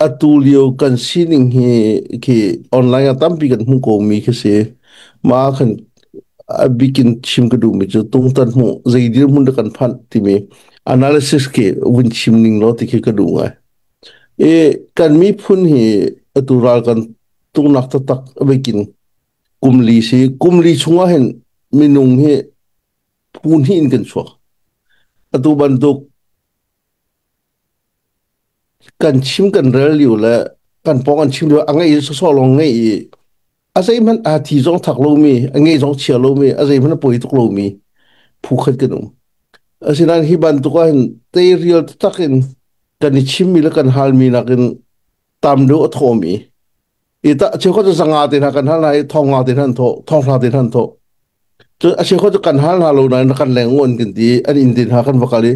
Atu lio kan sining hi khi online ah tampi kan hmuh ko mi khi si. Mah kan a bikin chim ka duhmi cu tungtan hmuh zei dirhmun dah kan phanh timi analysis khi vun chim ning law ti khi ka duh ngai. E kan miphun hi atu ral kan tungnak taktak vekin kumli si kumli chungah hin minung hi phu hnih in kan chuak. Atu bantuk kan chim kan rel lio le kan pawng an chim lio a ngeih sawsawh lawng ngeih i a zeihmanh aa thi zong thak lomi a ngeih zong chia lomi a zeihmanh a poi tuk lomi phu khat kan um asinain hi bantuk ahhin tei rial taktak in kan i chimmi le kan halmi nakin tam deuh a thawm i i ta cheukhat cu zanga te hna kan hal hna i thonga te hna an thawh thonghla te hna an thawh cu a cheukhat cu kan hal hna lo nain kan leng uan kan ti an in din hna kan va kal i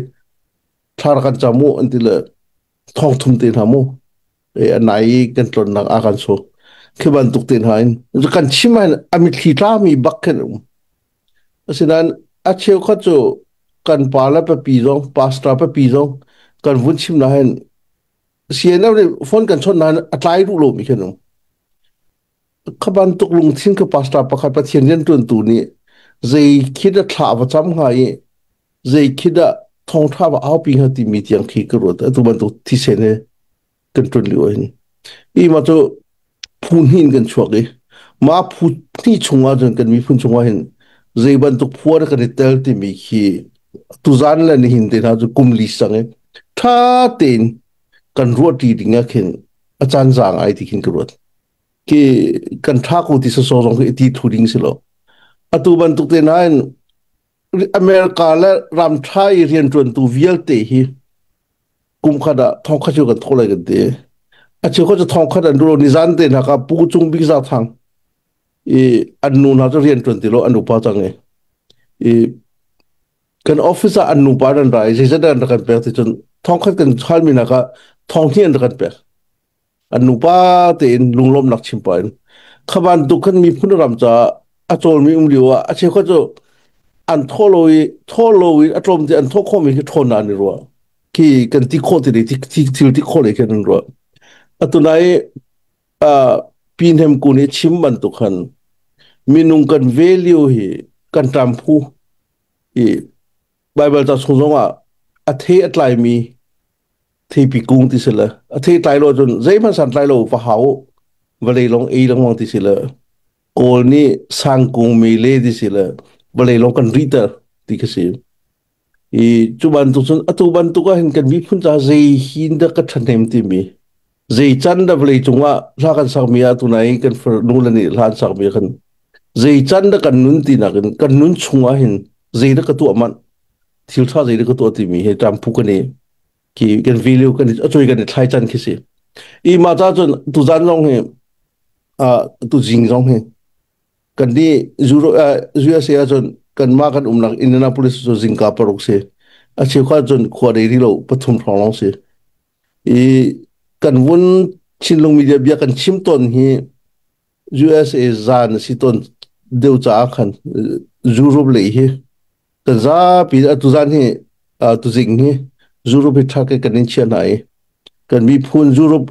thlar kan cam u an ti le thong thum te hna mu e anai i kan tlonnak a kan so khi bantuk te hna in kan chim an amit thli tlami bak khen um asinain a cheukhat cu kan pa le papi zong pastor papi zong kan vun chim na hen CNF nih phone kan chon na a tlai ru lo mi khen um Kha bantuk lungthin ka pastor pakhat Pathian riantuantu nih zei khit ah thlah va cam hnga i zei khit ah thongtha va aupi hnga timi tiang khi ka ruat atu bantuk thisen he kan tun li oin i ma chu phu hnin kan chuak i ma phu hni chungah cun kan miphun chungah hin zei bantuk phuar kan i tel timi khi tuzan le ni hin te hna chu kum li sang i tha tein kan ruat ri dingah khin a chan zang ai ti khin ka ruat Ki kan tha ko ti sawsawh zong khi i ti thu ding si lo. Atu bantuk te nain America le ramtha i riantuantu vialte hi kum khat ah thongkhat cu kan thaw lai kan ti. A cheu khat cu thongkhat an dulo nizan te hnak ah pu cung bik za thang i an nu hna cu riantuan ti lo an upa cang i i kan office ah an nupa an rai zeizat an rak kan pek ti cun thongkhat kan hal mi nak ah thong hi an rak kan pek an nupa tein lunglawmnak chim pah in kha bantuk khan miphun ram caah a cawlmi um lio ah a cheukhat cu an thaw lo i thaw lo in a tlawm te an thaw khawmi hi ṭhawn nan i ruah khi kan ti khawh ti le thil ti khawh le khin an ruah atuna i pi hnem kun i chim bantuk khan minung kan value hi kan ṭam phu i Baibal ca chung zongah a the a tlaimi theipi kung ti sila a theitlai lo cun zeihmanh santlai lo va hau vale long ei lengmang ti sila kawl nih sang kung me le ti sila vale long kan ri ter ti ka si i cu bantuk cun atu bantuk ah hin kan miphun ca zei hin dah ka thahnem timi zei can da vawlei cungah hla kan sakmi ah tunai kan nule nih hla an sakmi ah kan zei can da kan nun ti nakin kan nun chungah hin zei da ka tuah man thil tha zei da ka tuah timi he tam phu kan i ki kan vileu kan acoi kan i thlai can khi si i ma ta cun tu zan zong hi a tu jing zong hi kan di zuro USA a cun kan ma kan umnak Indianapolis cu zingka paruk si a cheu kha cun khua dei ri lo pathum thong long si i kan vun Chinlung media bia kan chim tawn hi USA zan a si tawn deu caah khan Europe lei hi kan zapi atu zan hi tu zing hi Europe hi thak kan in chia hna i kan miphun Europe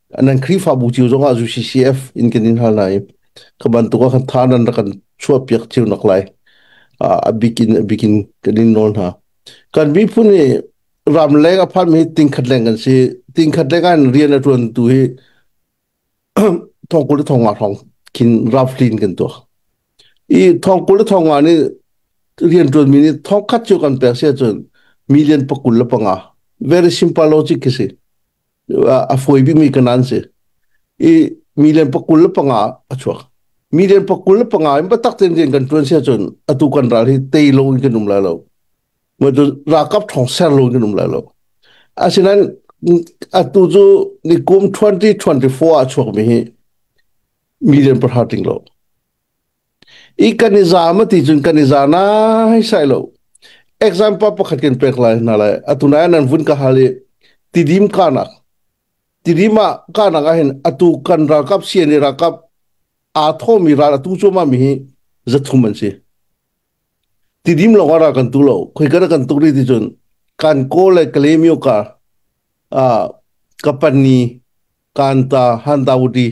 nan Khrihfabu cio zongah UCCF in kan in hal hna i ka bantuk ah khan tha nan rak kan chuahpiak cio nak lai uh, a bik in a bik in kan in nawl hna kan miphun hi ramleng a phan mi tingkhat leng kan si tingkhat leng an rian a tuan tu hi thongkul le thongwa thong khin raflin kan tuah i thongkul le thongwa ni rian tuan mi ni thongkhat chu kan pek se cun million pakul le panga very simple logic khi si a fawi bikmi ka nan si i million pakul le panga a chuak million pakul le panga in batak ten ten kan tuan si ahcun atu kan ral hi tei lo in kan um lai lo matu rakap thong ser lo in kan um lai lo asinain atu cu ni kum 2024 a chuakmi hi million pahra tling lo I kan i zaam a ti cun kan i za nai sai lo. Example pakhat kan pek lai hna lai. Atu nai nan vun ka hal i tidim kanak. Tidim ah kanak ahhin atu kan ralkap sian i ralkap aa thomi ral atu cuama mi hi zathum an si. Tidim lawngah ra kan tu lo. Khoi kana kan tuk ri ti cun kan kaw le kalemio ka uh, ka pani kanta handaudi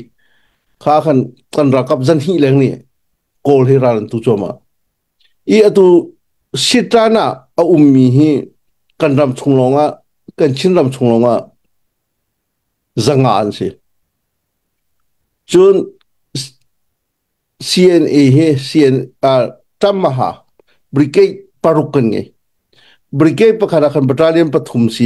kha khan kan rakap zan hi leng ni kawl hi ran tu choma i atu sitan a a ummi hi kan ram chung lawngah kan chin ram chung lawngah zanga an si cun CNA hi CN uh, Tamaha brigade paruk kan ngai brigade pakhat ah khan battalion pathum si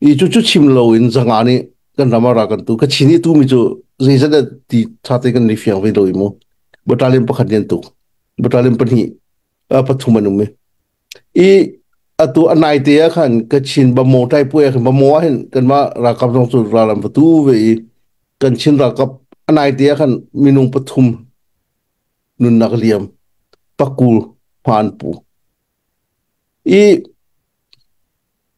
i cu cu chim lo in zanga nih kan ram ah ra kan tu ka chin i tu mi cu zeizat dah ti tha te kan ni fiang ve lo i mu battalion pakhat nih an tu battalion pahnih uh, pathum an um i i atu anai te ah khan ka chin bamo tai pu ya bamo ah hin kan ma rakap zong cu ralam fatu ve i kan chin rakap anai te ah khan minung pathum nunnak liam pakul hman pu i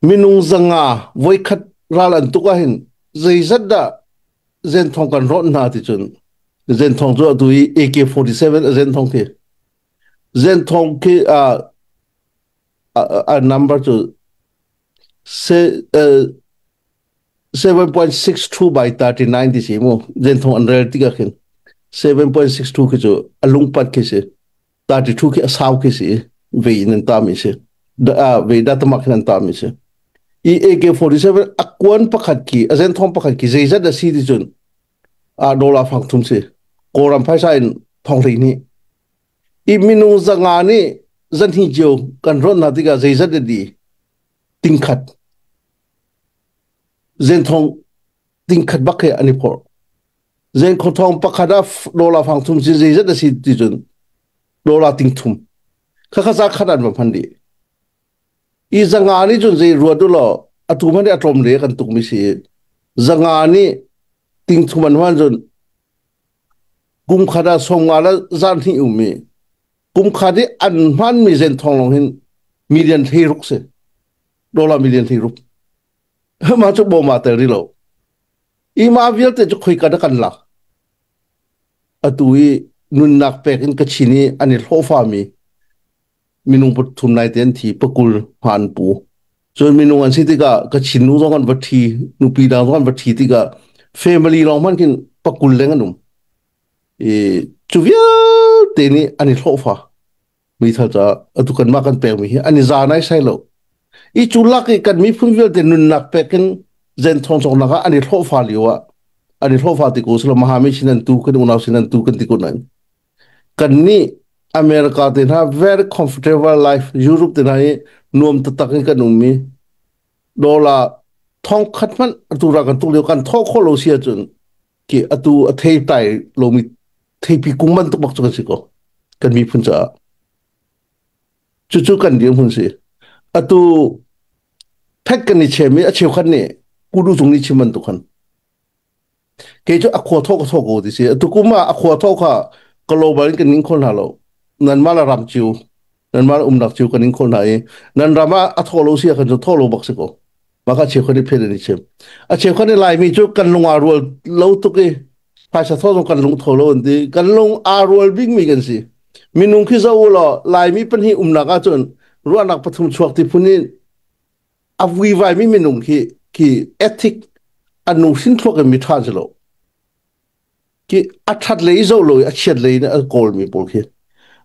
minung zanga voikhat ral an tuk ahhin zeizat dah zenthong kan rawnh hna ti cun zenthong cu atu i AK47 a zenthong khi zenthong khi a a number cu seven point six two by thirty nine ti si mu zenthong an rel tik ah khin seven point six two khi cu a lungpat khi si tati thu khi asau khi si ve in an tam isi da ve da tamak in an tam isi i AK47 akwan pakhat ki azen thong pakhat ki zeizat asi ti chun a dola phang thum si koram phaisa in thong ri ni i minu zanga ni zan hi jo kan ron na tika zeizat di tingkhat zen thong tingkhat bak he ani phor Zen khawthawng pakhat ah dola fang thum si zeizat a si ti cun dola ting thum khakha sa khat an va phan di i zanga ni cun zei ruat u law atu man a tlom le kan tuk mi si zanga ni ting thum an wan cun kum khat ah som nga la zan hni um mi kum khat i an man mi zen thong long hin million thei ruk si dola million thei ruk ma chu bo ma tel ri lo i mah vialte cu khoi ka kan lak atu i nunnak pek in ka chin i an i hlawhfami minung pathum nai te an thi pakul hma an pu cun minung an si tikah ka chin nu zong an va thi nupi da zong an va thi tikah family lawng hman kin pakul leng an um i cu vialte nih an i hlawhfa meithal caah atu kanmah kan pekmi hi an i za naisai lo i cu lak i kan miphun vialte nunnak pek in zen thongchongnak ah an i hlawhfa lio ah an i hlawhfa ti ko silo mahami sin an tu kan unau sin an tu kan ti ko nain kan nih america te hna very comfortable life europe te hna hi nuam tatak in kan ummi dollar thong khat hmanh atura kan tuk lio kan thawh khawh lo si ahcun Ki atu a thei tai lomi theipi kung bantuk bak cu kan si ko kan miphun caah. Cucu kan dirhmun si. Atu thek kan ni chem i a cheukhat nih kudu cung ni chim bantuk khan. Kei cu a khua thawk ka thawk ko ti si. Atu kum ah a khua thawk kha ka lo balin kan ning khol hna lo. Nan mah la ram ciu. nan mah umnak cu kan in khol hna i nan ram ah a thaw lo si ahkhan cu thaw lo bak si ko mah kha cheukhat i phen in i chim a cheukhat i laimi cu kan lung aa rual lo tuk i phaisa thaw zong kan lung tho lo an ti kan lung aa rual bingmi kan si minung khi zo u law laimi pahnih umnak ahcun ruahnak pathum chuak ti phun i a vuivai mi minung khi khi ethic anu sin thluak in mi than si lo Ki a ṭhatlei zohlawi a chiatlei in a kawlmi pawl khi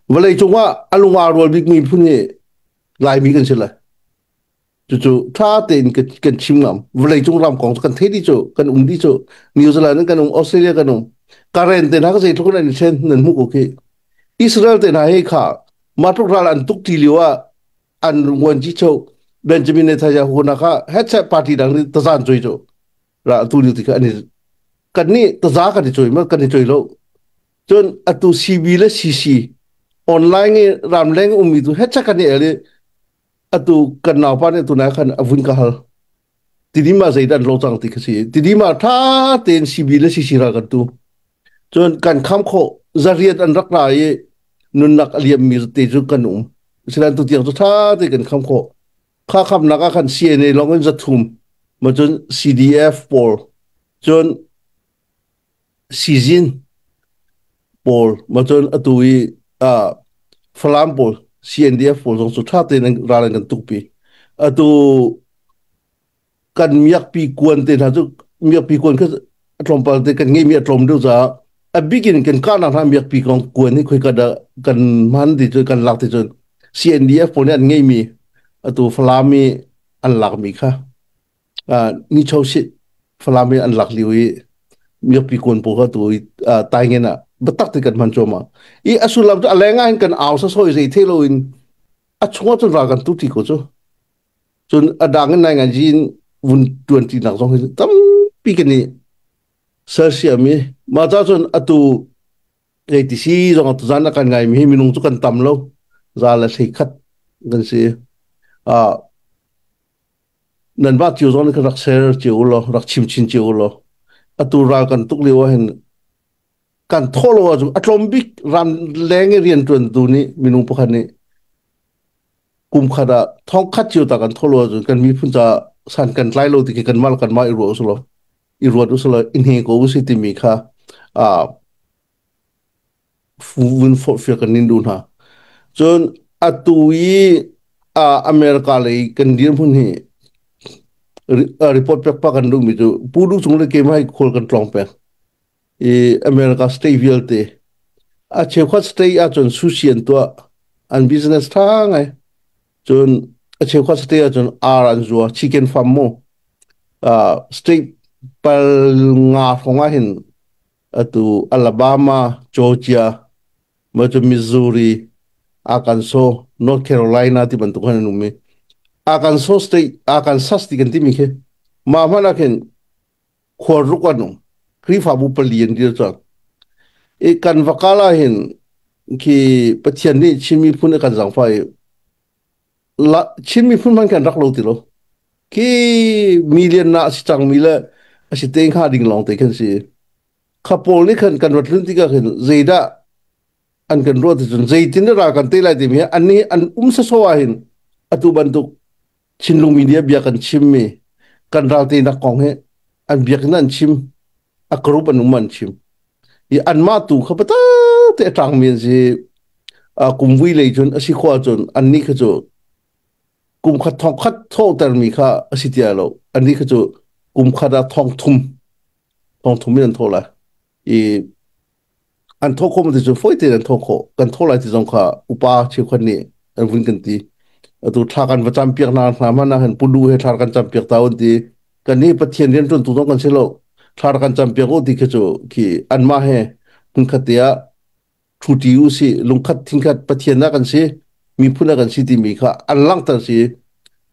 vawleicung ah a lung aa rual bikmi miphun hi Laimi kan si lai. Cucu ṭha tein kan, kan chim ngam. Vawleicung ram kong kan thei dih cu, kan um dih cu. New Zealand in kan um, Australia kan um. Karen te hna zeitluk in an i ṭhen nan hmuh ko khi. Israel te hna hi kha mah tluk ral an tuk ṭi lio ah an runguan ci cheu Benjamin Netanyahu hna kha headset party dang nih tazan cui cu. ra atu ni tikah ani kan nih taza kan i coi ma kan i coi lo cun atu cb le cc online i ramleng ummi tu hecha kan i el i atu kan naupa nih tunai khan avun ka hal tini ma zeidan lo cang ti khasi tini ma tha ten cb le cc ra kan tu cun kan kham kho zariat an rak ra i nunnak aliam mi te chu kan um sinan tu tiang chu tha te kan kham kho khakhamnak ah khan CNA lawng in zathum ma cun CDF pawl cun sizin pawl ma cun atu i uh, falam pawl CNDF pawl zong cu ṭha tein ral an kan tuk pi atu kan miakpi kuan te hna cu miakpi kuan kha a tlawmpal te kan ngeimi a tlawm deuh caah a bik in kan kahnak hna miakpi kong kuan hi khoi kad ah kan man ti cu kan lak ti cun CNDF pawl nih an ngeimi atu Falam i an lakmi kha uh, nicho sit Falam i an lak lio i miakpi kuan pawl kha tu uh, tai ngen ah batak ti kan man chuama i a sullam cu a leng ah hin kan au sa soi zei the lo in a chungah cun ra kan tu ti ko cu Cun a dang in nai nganji in vun ṭuanṭinak zong hi tampi kan i sersiam i mah cahcun atu kei ti si zong atu zan a kan ngaimi hi minung cu kan tam lo za le hlei khat kan si. Ah nan mah cio zong nih khan rak ser cio u law rak chim chin cio u law atu ral kan tuk lio ah hin kan thaw lo ahcun a tlawm bik ran leng i rianṭuantu nih minung pakhat nih kumkhat ah thongkhat cio ta kan tholo ahcun kan miphun caah san kan tlai lo ti kan mal kan ma i ruah usulaw i ruat usulaw i hne ko usi timi kha uh, vun forhfia kan nin du hna cun atu i uh, america lei kan dirhmun hi report pek pa kan duhmi cu pu du chung le ke mai khol kan tlong pek i America state vialte a cheukhat state ahcun sushi an tuah an business tha ngai cun a cheukhat state ahcun ar an zuwa chicken farm mu uh, state pal nga hrawng ah hin atu Alabama Georgia ma cu Missouri Arkansas North Carolina ti bantuk khan an um i Arkansas state Arkansas ti kan timi khi mah hmanh ah khin khuaruk an um khrihfabu pali an dir cang i kan va kal ah hin khi pathian nih chin miphun a kan zangfa i la chin miphun man kan rak lo ti lo khi million na si cang mi le a si te kha ding long te khan si kha paul nih khan kan rat hlun tika khin zeidah an kan ruat cun zeitin ra kan te lai ti mi an ni an um sa so ah hin atu bantuk thinlungmi nih a bia kan chimmi kan ral tenak kong hi an biakinn an chim a group an um an chim i anmah tu kha pata te ṭangmi an si kum vui lei cun a si khua cun annih kha cu kum khat thong khat thawhtermi kha a si tia lo annih kha cu kum khat ah thong thum thong thum in an thaw lai i an thawh khawh ti cu fawi tein an thawh khawh kan thawh lai ti zong kha upa cheukhat nih an vun kan ti atu thla kan va cam piak na hna man han pulu he thla kan cam piak ta un ti kan ni pathian rian tuan tu zong kan si lo thla kan cam piak u ti khi cu khi an ma he hun khatia thuti u si lungkhat thingkhat pathian na kan si miphun na kan si ti mi kha an langter si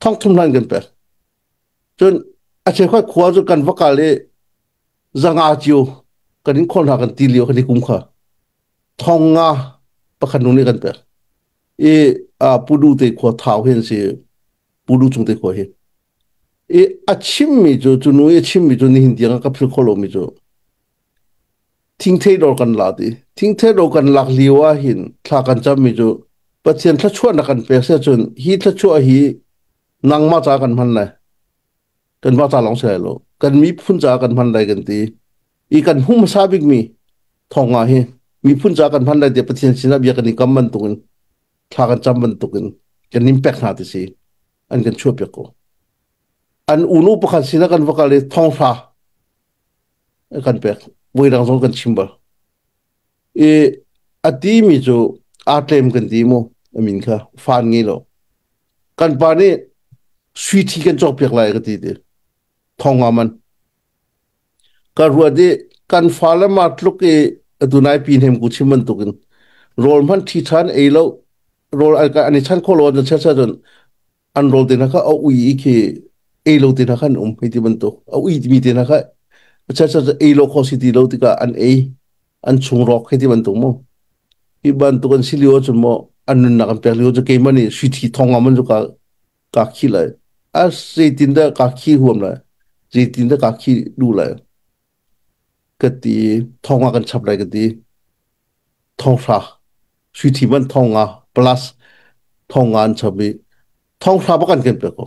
thong thum hlan kan pek Cun a cheukhat khua cu kan va kal i zanga cio kan in khawlh hna kan ti lio kan i kum kha thong nga pakhat nu nih kan pek i pulu te khua thau hi an si pulu chung te khua hi i a chimmi cu cu nu i a chimmi cu nihin tiang ah ka philh khawh lomi cu thingthei dor kan lak i thingthei dor kan lak lio ah hin thla kan cammi cu pathian thluachuahnak kan pek si ahcun hi thluachuah hi nangmah ca kan hman lai kanmah ca lawng si lai lo kan miphun ca kan hman lai kan ti i kan hung hmasa bikmi thawngga hi miphun ca kan hman lai tiah pathian sinah bia kan i kam bantuk in thla kan cam bantuk in kan impact hna ti si an kan chuah piak ko an unu pakhat sinah kan va kal i thongfa kan pek voi dang zong kan chim bal I a timi cu aa tlem kan ti maw a min kha fan nge lo kan pa nih sui thi kan cawkpiak lai ka ti ti thong nga man ka ruat i kan fa le ma tluk i atu nai pi hnem ku chim bantuk in rawl hman thi than ei lo rawl ai ka an i chan kholo na cha cha cun an rol te hna kha a ui i khi ei lo te hna kha an um hei ti bantuk a ui mi te hna kha acha cha ei lo kho si ti lo tikah an ei an chung rawk hei ti bantuk mo hi bantuk an si lio ahcun mo an nunnak an pek lio cu keimah nih suithi thong am cu ka ka khi lai a zeitin dah ka khi huam lai zeitin dah ka khi du lai ka ti thong ah kan chap lai ka ti thonghra suithi man thong nga plus thong nga an chap i thonghra bak an kan pek ko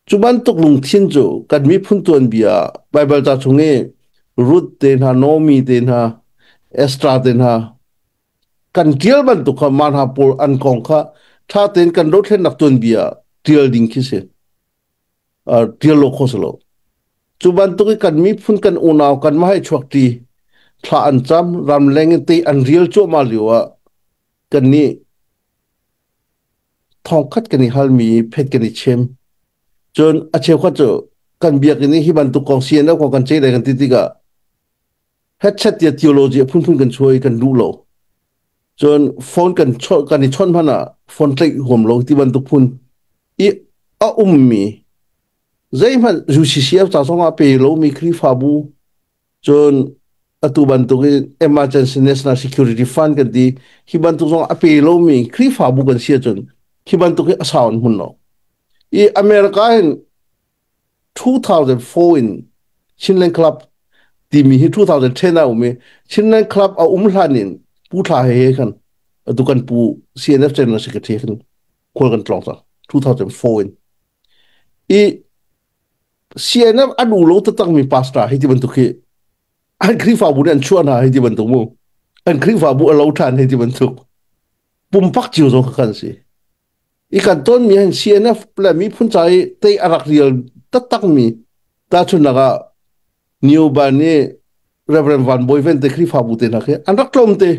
cu bantuk lungthin cu kan miphun tuanbia Baibal ca chung i Ruth te hna Nomi te hna Estra te hna kan tial bantuk kha man ha pur an kong kha tha tein kan dothlennak tuanbia tial ding khi si uh, tir lo kho si lo cu bantuk i kan miphun kan unau kan ma hai chuak ti thla an cham ram leng in te an real cuahma lio ah kan ni thongkhat kan i halmi phet kan i chem cun a cheukhat cu kan biak in hi bantuk kong si na ko kan chei dai kan ti tikah headset tia theology a phunphun kan chuai kan lu lo cun phone kan chon kan i chon hman ah phone tlaih huam lo ti bantuk phun i a ummi zeihmanh UCCF ca zong ah pe lomi Khrihfabu cun atu bantuk in emergency national security fund kan ti hi bantuk zong a pe lomi Khrihfabu kan si ahcun hi bantuk hi a sau an hmun lo i America in two thousand four in Chinland Club timi hi two thousand ten a um i Chinland Club a um hlan in pu thla he he khan atu kan pu CNF general secretary kan kol kan tlong ta two thousand four in i CNF a du lo ta tak mi pastor hi ti bantuk hi an Khrihfabu nih an chuah hna hi ti bantuk mu an Khrihfabu a lo than hi ti bantuk pumpak ciu zo kha kan si i kan tonmi an CNF le miphun ca i tei a rak rial taktakmi tahchunhnak ah Nioba nih Reverend Van Bawi Vente Khrihfabu te hna khi an rak tlawmte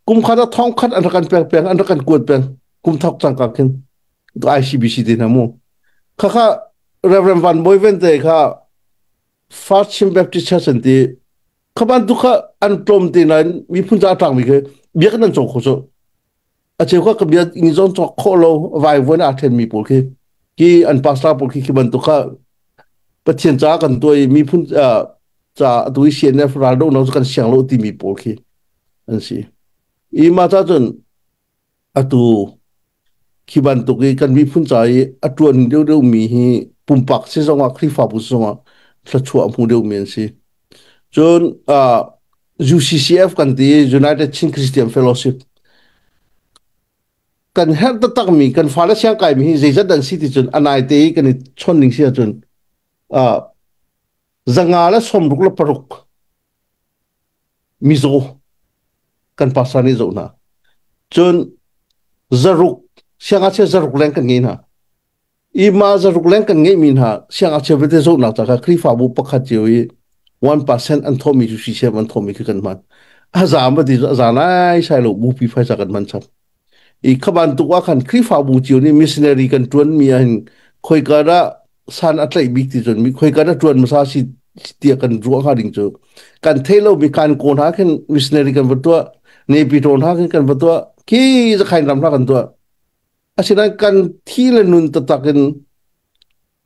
kum khat ah thong khat an rak kan pek peng an rak kan kuat peng kum thok cangka khin to ICBC te hna mu khakha Reverend Van Bawi Vente kha First Chin Baptist Church an ti khaban tu kha an tlawmte nain miphun ca tangmi ke biak nan chong kho chu a cheu ka bia ni zong cawk khawh lo vaivuan a ṭhen mi pawl khi ki an pastor pawl khi khi bantuk kha pathian ca kan tuai miphun ca atu i sian ne ral do no kan siang lo ti mi pawl khi an si i ma ca cun atu khi bantuk i kan miphun ca i a ṭuan deuh deuh mi hi pumpak si zongah Khrihfabu zongah thluachuah hmu deuh mi an si cun UCCF kan ti United Chin Christian Fellowship kan herh taktakmi kan fale siang kaimi hi zeizat an si ti cun anai te i kan i chon ning si cun uh, zanga le somruk le paruk mizo kan pastor nih zo hna cun zaruk sianga chia zaruk leng kan ngei hna i mah zaruk leng kan ngeihmi hna siangngakchia vialte zohnak ca kha Khrihfabu pakhat cio i one percent an thawhmi cu sisem an thawhmi khi kan hman a zaam va ti cu a zaan ai sai lo bupi phaisa kan hman chap i kha bantuk ah khan Khrihfabu cio nih missionary kan tuanmi ah hin khoikar ah san a tlaih bik ti cun mi khoikar a tuan masa si tiah kan ruah hnga ding cu kan thei lomi kan ko hna khin missionary kan va tuah ne pitawn hna khin kan va tuah khi zakhain ram hna kan tuah Asinain kan thi le nun taktak in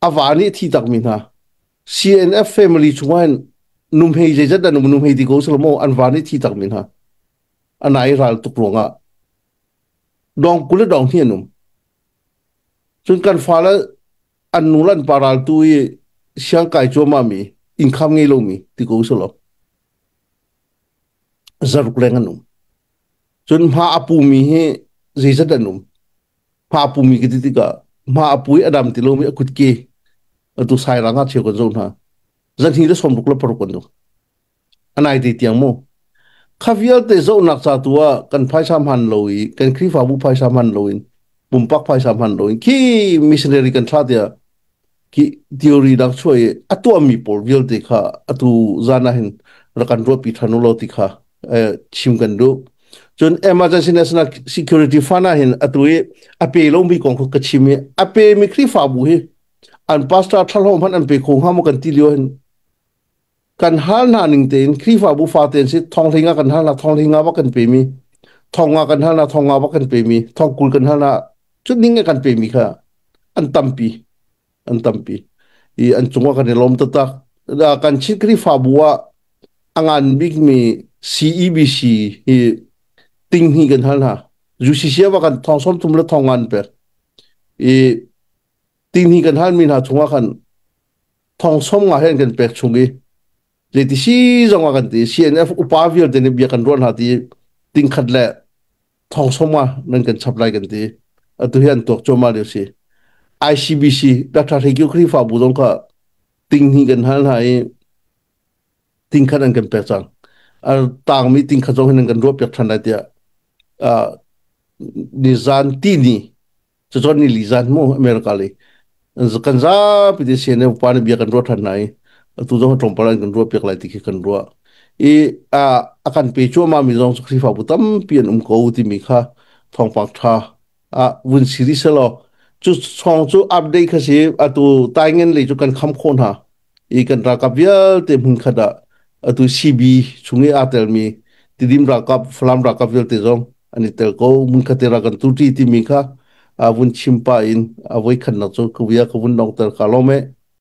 a va nih thi takmi hna CNF family chungah hin numhei zeizat an um numhei ti ko selaw an va nih thi takmi hna ana i ral tuk ruangah dong kul le dong hi an um cun kan fale an nu le an pa ral tu i siang kai cuamami innkham ngei lomi ti ko selaw zaruk leng an um. Cun hma a pumi hi zeizat an um. Hma a pumi ka ti tikah hma a pui adam ti lomi a kut ke atu sai rang a cheu kan zo hna. Zan hi le somruk la paruk kan zo. Anai te tiang mo. Kha vialte zo nak ca tu ah kan phaisam han lo i kan krifa bu phaisam han lo in pumpak phaisam han lo in ki missionary kan tha tia ki theory dak chuai a tuahmi pawl vialte kha atu zan ah hin rak kan ruahpi than lo ti kha eh, chim kan duh cun emergency national security fund ah hin atu i a pe lomi kong ka chim i a pe mi khrifabu hi an pastor thalhom han an pe kho hnga mo kan ti lio hin kan hal hna ning tein Khrihfabu fate an si thonghling ah kan hal hna thonghling ah wa kan pemi thong ah kan hal hna thong ah wa kan pemi thong kul kan hal hna cu ning ah kan pemi kha an tampi an tampi i an cungah kan i lom tata kan chin Khrihfabu ah a ngan bikmi CEBC hi ting hi kan hal hna UCC wa kan thong som tum le thong an per i ting hi kan hal mi hna chungah khan Thongsawm nga hen kan pek chung i le ti si zong a kan ti CNF upa vialte nih bia kan ruah hna ti tingkhat le thongsawm nga nan kan chap lai kan ti atu hi an tuak cuahmah lio si ICBC Dr. Hlekiu Khrihfa bu zong kha tinghni kan hal hna i tingkhat an kan pek cang a tangmi tingkhat zong hin an kan ruah piak than lai tiah uh, ni zan ti ni cucun ni li zan mu america le kan zapi te se ne upa ne bia kan ruat than nai tu zong tong para kan ruat piak lai ti khi kan ruat i a akan pe chu ma mi zong khrifa pu tam pi an um ko ti mi kha thong pak tha a vun series lo chu song chu update kha si atu tai ngen le chu kan kham kho na i kan ralkap vialte hmun khat ah atu CB chung i aa telmi tidim ralkap Falam ralkap vialte zong an i tel ko mun khat ra kan tu ti timi kha a vun chim pa in a voi khannak cu kawia ka vun dong tel ka lome